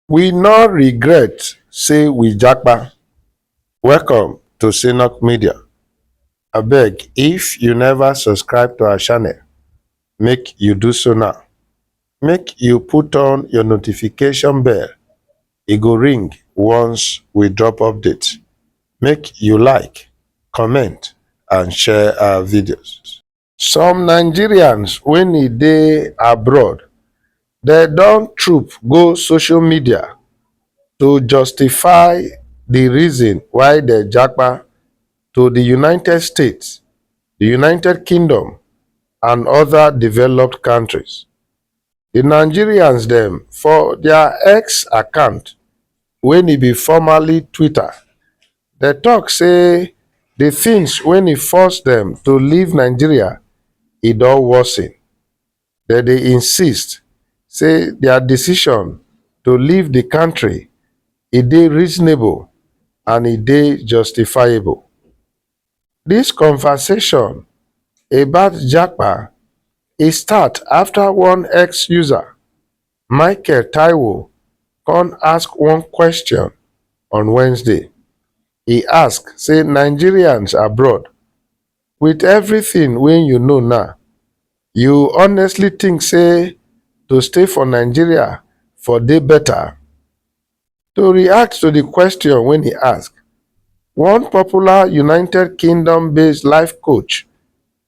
We no regret say we japa. Welcome to Synock Media. Abeg, if you never subscribe to our channel, make you do so now. Make you put on your notification bell. E go ring once we drop update. Make you like, comment, and share our videos. Some Nigerians wey e dey abroad dem don troop go social media to justify di reason why dem japa to di United States, di United Kingdom and oda developed kontris. Di Nigerians dem for dia X account wey e be formerly Twitter, dem tok say di tins wey e force dem to leave nigeria e don worsen. Dem dey insist say dia decision to leave di kontri e dey reasonable and e dey justifiable. Dis conversation about japa e start afta one X user Michael Taiwo kon ask one kwesion on Wednesday. E ask say Nigerians abroad, wit evritin wey you know now, you honestly tink say to stay for Nigeria for dey beta? To react to di question wey e ask, one popular United Kingdom-based life coach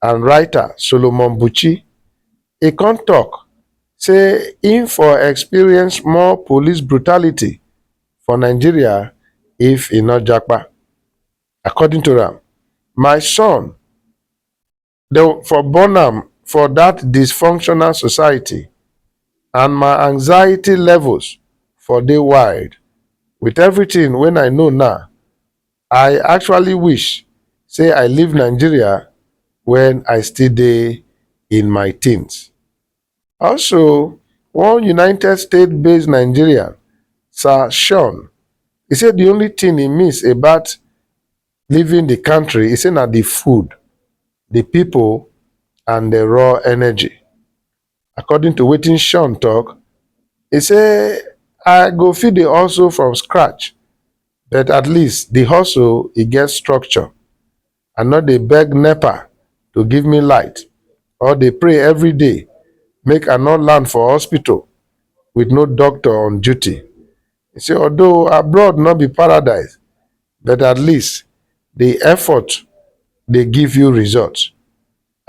and writer Solomon Buchi, e kon tok say im for experience more police brutality for Nigeria if e no japa. According to am, My son, Dem for born am for dat dysfunctional society and my anxiety levels for dey wild. With everything wen I know now, I actually wish say I leave Nigeria wen I still dey in my teens. Also, one United States-based Nigerian, Sir Sean, e say di only thing e miss about leaving di kontri e say na di food di pipo and di raw energy according to wetin shaun tok e say i go fit dey hustle from scratch but at least di hustle e get structure i no dey beg nepa to give me light or dey pray everyday make i no land for hospital wit no doctor on duty He say although abroad no be paradise but at least di effort dey give you results.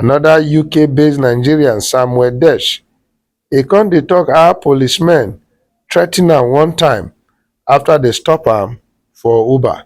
Anoda UK-based Nigerian, Samuel Desh, e come dey tok how policemen threaten am one time afta dem stop am for Uber.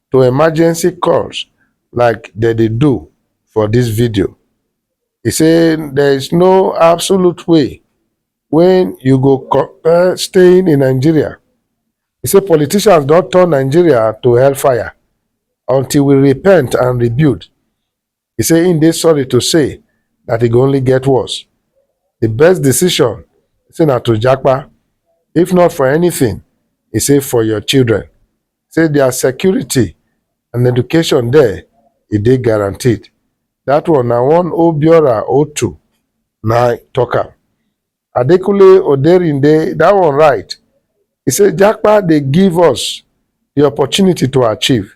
to emergency calls like dem dey do for dis video. E say there is no absolute way wey you go compare staying in Nigeria. E say politicians don turn Nigeria to hellfire until we repent and rebuild. He say he dey sorry to say that e go only get worse. The best decision say na to japa, if not for anything, he say for your children. Say their security and education there e dey guaranteed. That one na one Obiora Otu na talk am. Adekunle Oderinde that one right. He say Japa dey give us the opportunity to achieve.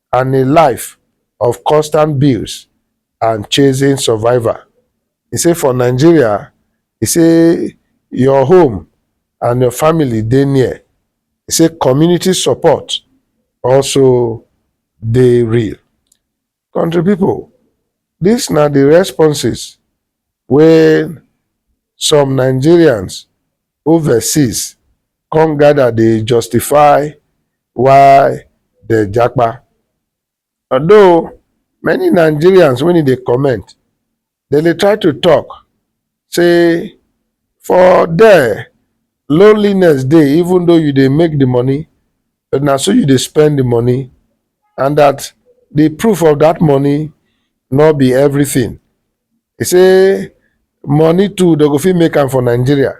and a life of constant bills and chasing survival. He say for Nigeria, he say your home and your family dey near. He say community support also dey real. Country people, dis na the responses wey some Nigerians overseas come gather dey justify why dem japa. Although many Nigerians when e dey comment, dem dey try to talk say for there loneliness dey even though you dey make the money but na so you dey spend the money and that the proof of that money no be everything. He say money too they go fit make am for Nigeria.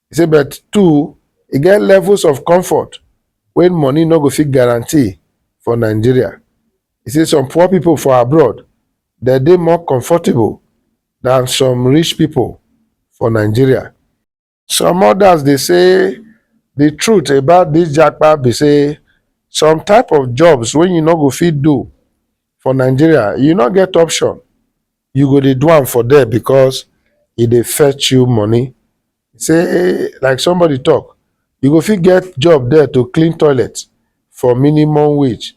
He say but two e get levels of comfort wey money no go fit guarantee for Nigeria. He say some poor people for abroad they dey more comfortable than some rich people for Nigeria. Some others dey say the truth about this japa be say some type of jobs wey you no go fit do for Nigeria, you no get option. You go dey do am for there because e dey fetch you money. Say like somebody talk, you go fit get job there to clean toilet for minimum wage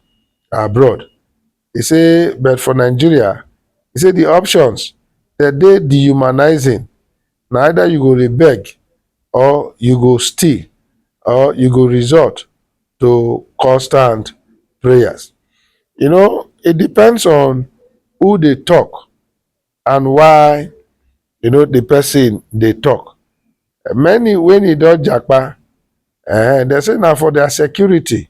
abroad. E say but for Nigeria, e say di options dem dey dehumanising, na either you go rebeg or you go steal or you go resort to constant prayers. You know it depends on who dey talk and why you know di person dey talk. Many wen e don japa um dem say na for their security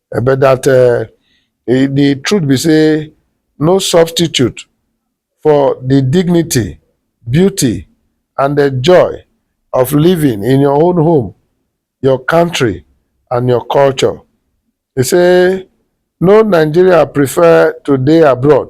Eh, but that uh, eh, the truth be say no substitute for the dignity, beauty, and the joy of living in your own home, your country, and your culture. He say no Nigeria prefer to dey abroad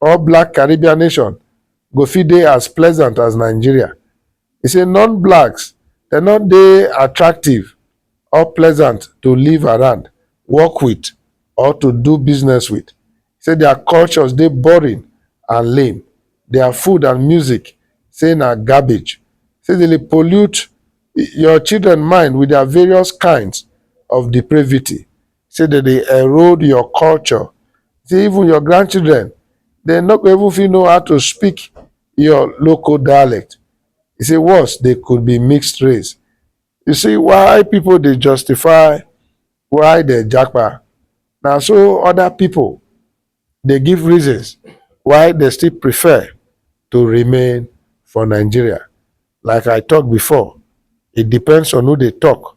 or black Caribbean nation go fit dey as pleasant as Nigeria. He say non-blacks dem no dey attractive or pleasant to live around, work with or to do business with. He say their cultures dey boring and lame, their food and music say na garbage, say dem dey pollute your children mind with their various kinds of depravity. say dem dey erode your culture, say even your grandchildren dem no go even fit know how to speak your local dialect. E say worse dey could be mixed race. You see why pipu dey justify why dem japa na so other pipu dey give reasons why dem still prefer to remain for Nigeria. Like I talk before e depends on who dey talk